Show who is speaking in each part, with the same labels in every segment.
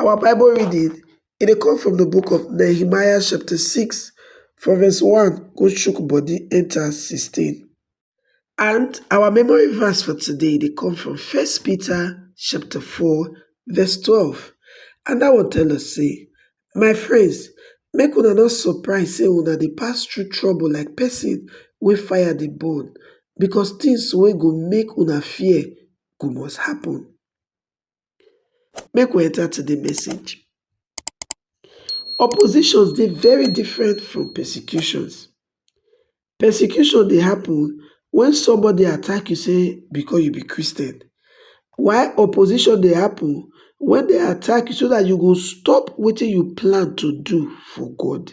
Speaker 1: Our Bible reading e dey come from the book of Nehemiah chapter 6 from verse 1 go chook body enter 16. And our memory verse for today dey come from First Peter chapter 4 verse 12. And that one tell us say, My friends, make una not surprise say una dey pass through trouble like person wey fire dey burn, because things wey go make una fear go must happen. Make we enter to the message. Oppositions dey very different from persecutions. Persecution dey happen when somebody attack you say because you be Christian. Why opposition dey happen when they attack you so that you go stop wetin you plan to do for God.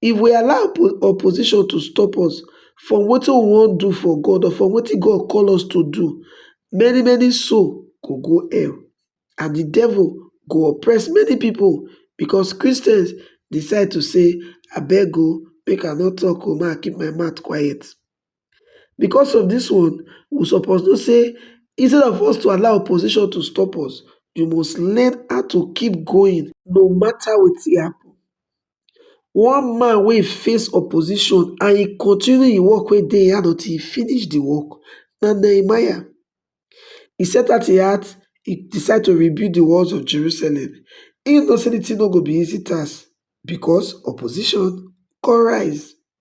Speaker 1: If we allow opposition to stop us from wetin we wan do for God or from wetin God call us to do, many many soul go go hell and the devil go oppress many people because Christians decide to say abeg o make I no talk o make I keep my mouth quiet. Because of this one, we suppose know say instead of us to allow opposition to stop us, you must learn how to keep going no matter wetin happen. One man wey face opposition and he continue im work wey dey im hand until he finish the work na Nehemiah. He set out im heart, he decide to rebuild the walls of Jerusalem. He know say the thing no go be easy task because opposition come rise.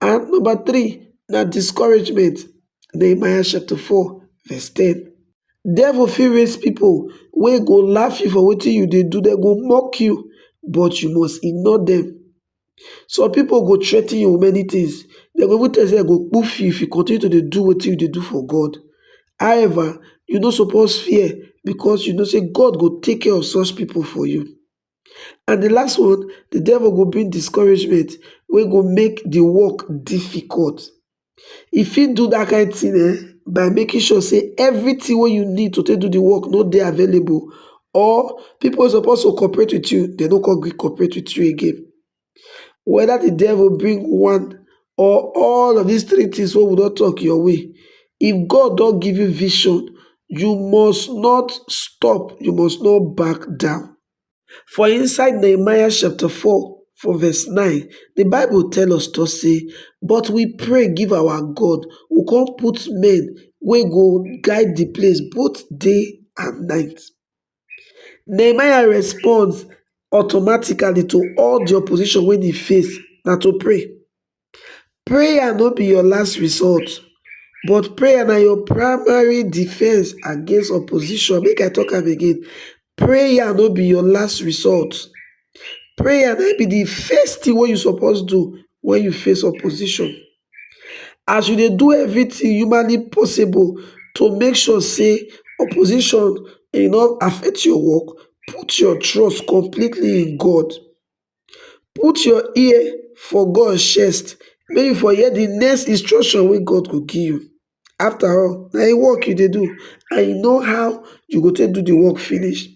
Speaker 1: And number three, na discouragement. Nehemiah chapter 4, verse 10. Devil fit raise people wey go laugh you for wetin you dey do, dem go mock you, but you must ignore them. Some people go threaten you with many things. Dem go even tell you say dem go poof you if you continue to dey do wetin you dey do for God. However, you no suppose fear because you know say God go take care of such people for you. and di last one di devil go bring discouragement wey go make di work difficult e fit do dat kain tin um by making sure say everytin wey you need to take do di work no dey available or pipo wey suppose to cooperate wit you dem no come gree cooperate wit you again. whether the devil bring one or all of these three things what we don't talk your way if god don't give you vision you must not stop you must not back down for inside nehemiah chapter 4 for verse 9 the bible tell us to say but we pray give our god who can put men we go guide the place both day and night nehemiah response automatically to all di opposition wey e face na to pray prayer no be your last resort but prayer na your primary defence against opposition make i talk am again prayer no be your last resort prayer na im be di first thing wey you suppose do wen you face opposition as we dey do everything humanly possible to make sure say opposition e no affect your work, put your trust completely in God, put your ear for God chest make you for hear the next instruction wey God go give you. After all na im work you dey do and you know how you go take do de work finish.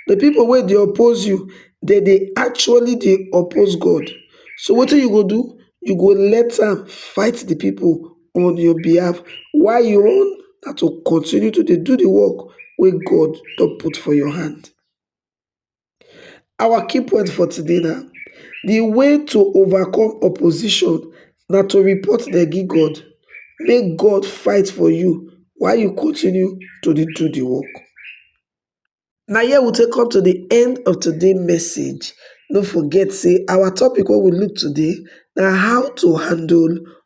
Speaker 1: De pipu wey dey oppose you dem dey actually dey oppose God so wetin you go do, you go let am fight de pipu on your behalf while your own na to continue to dey do de work wey God don put for your hand. Our key point for today na the way to overcome opposition na to report dem give God, make God fight for you while you continue to dey do the work. Na here we take come to the end of today message. No forget say our topic wey we look today na how to handle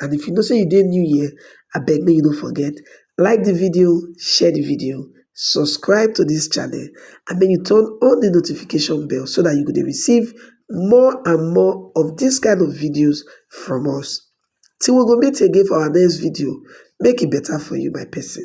Speaker 1: and if you know say you dey new here abeg make you no forget like the video share the video subscribe to this channel and make you turn on the notification bell so that you go dey receive more and more of this kind of videos from us till we go meet again for our next video make e better for you my person